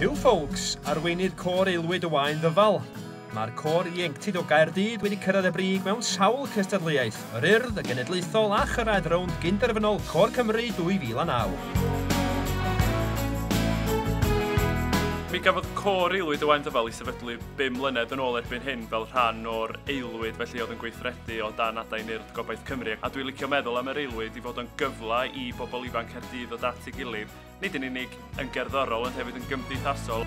Huw Foulkes, arweinydd Côr Aelwyd y Waun Ddyfal. Mae'r Côr Ieuenctid o Gaerdydd wedi cyrraedd y brig mewn sawl cystadleuaeth, yr Urdd, y Genedlaethol a chyrraedd rownd gyn-derfynol Côr Cymru 2009. Mi gafodd Côr Aelwyd y Waun Ddyfal i sefydlu bum mlynedd yn ôl erbyn hyn fel rhan o'r Aelwyd felly oedd yn gweithredu o dan adain Urdd Gobaith Cymru, a dwi'n licio meddwl am yr aelwyd i fod o'n gyfle i bobl ifanc Caerdydd ddod at ei gilydd, nid yn unig yn gerddorol ond hefyd yn gymdeithasol.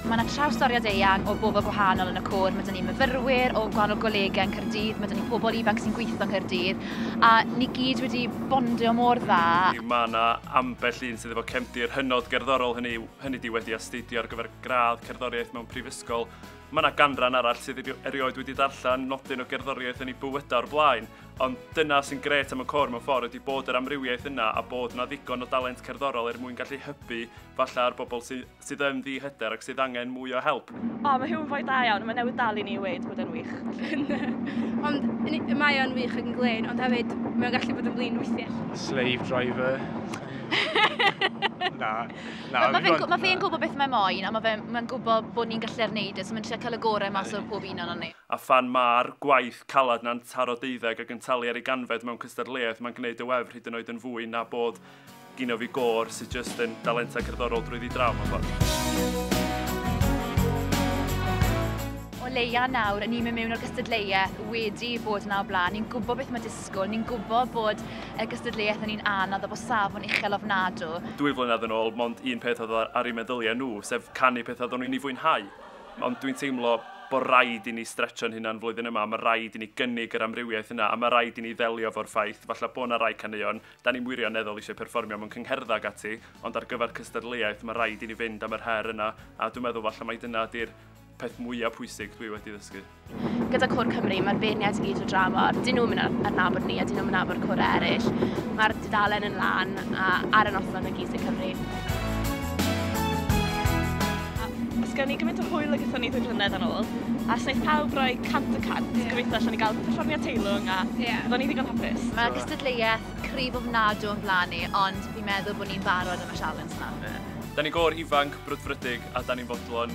Mae yna trawstoriad eang o bobl gwahanol yn y côr. Mae 'da ni myfyrwyr o gwahanol golegau yn Caerdydd, mae 'da ni pobl ifanc sy'n gweithio yn Caerdydd, a ni gyd wedi bondio mor dda. Mae yna ambell un sydd efo cefndir hynod gerddorol, hynny yw, hynny ydi wedi astudio ar gyfer gradd cerddoriaeth mewn prifysgol, Mae yna ganran arall sydd erioed wedi darllen nodyn o gerddoriaeth yn ei bywydau o'r blaen, ond dyna sy'n grêt am y côr mewn ffordd ydi bod yr amrywiaeth yna a bod yna ddigon o dalent cerddorol er mwyn gallu hybu falle ar bobl sydd yn ddi-hyder ac sydd angen mwy o help. O, mae Huw yn foi da iawn, mae newydd dal i ni i weud bod e'n wych. ond mae o'n wych yn glen, ond hefyd mae'n gallu bod yn flin weithiau. Slave driver. Na. Na, Wel, mae fe'n gw- ma fe'n gwybod beth mae moyn, a mae fe'n ma gwybod bod ni'n gallu'r neud e, so mae'n trio cael y gorau mas o'r pob un o'n ni. A phan mae'r gwaith caled na'n taro deuddeg ac yn talu ar ei ganfed mewn cystadleuaeth, mae'n gwneud y wefr hyd yn oed yn fwy na bod gino fi gôr sydd jyst yn dalentau cerddorol drwyddi draw mewn ffordd. O leia nawr, 'y ni'n mynd mewn o'r gystadleuaeth wedi bod 'na o blaen, ni'n gwybod beth mae Glasgow, ni'n gwybod bod y gystadleuaeth yn un anodd a bod safon uchel ofnadw. Dwy flynedd yn ôl, mond un peth oedd ar eu meddyliau nhw, sef canu pethau oedden nhw yn ei fwynhau. Ond dwi'n teimlo bod rhaid i ni stretsio'n hunan flwyddyn yma, mae rhaid i ni gynnig yr amrywiaeth yna a mae rhaid i ni ddelio efo'r ffaith falle bod 'na rai caneuon 'da ni'm wirioneddol eisiau perfformio mewn cyngherddau ac ati, ond ar gyfer cystadleuaeth mae rhaid i ni fynd am yr her yna a dwi'n meddwl falle mai dyna ydi'r peth mwyaf pwysig dwi wedi ddysgu. Gyda Cwr Cymru, mae'r beirniaid i gyd o dramor. Dyn nhw'n mynd ar nabod ni a dyn nhw'n mynd nabod cwr eraill. Mae'r dudalen yn lan a ar y noson y gyd yn Cymru. Os gen i gymaint o hwyl ag ethon ni ddwy flynedd yn ôl, a wnaeth pawb roi cant y cant, yeah. gobeithio allan ni gael perfformiad teilwng a yeah. ni ddigon hapus. Mae gystadleuaeth cryf ofnadw yn blaen ni, ond fi'n meddwl bod ni'n barod am y sialens yna. Yeah. Da ni gor ifanc, brwdfrydig a da ni'n fodlon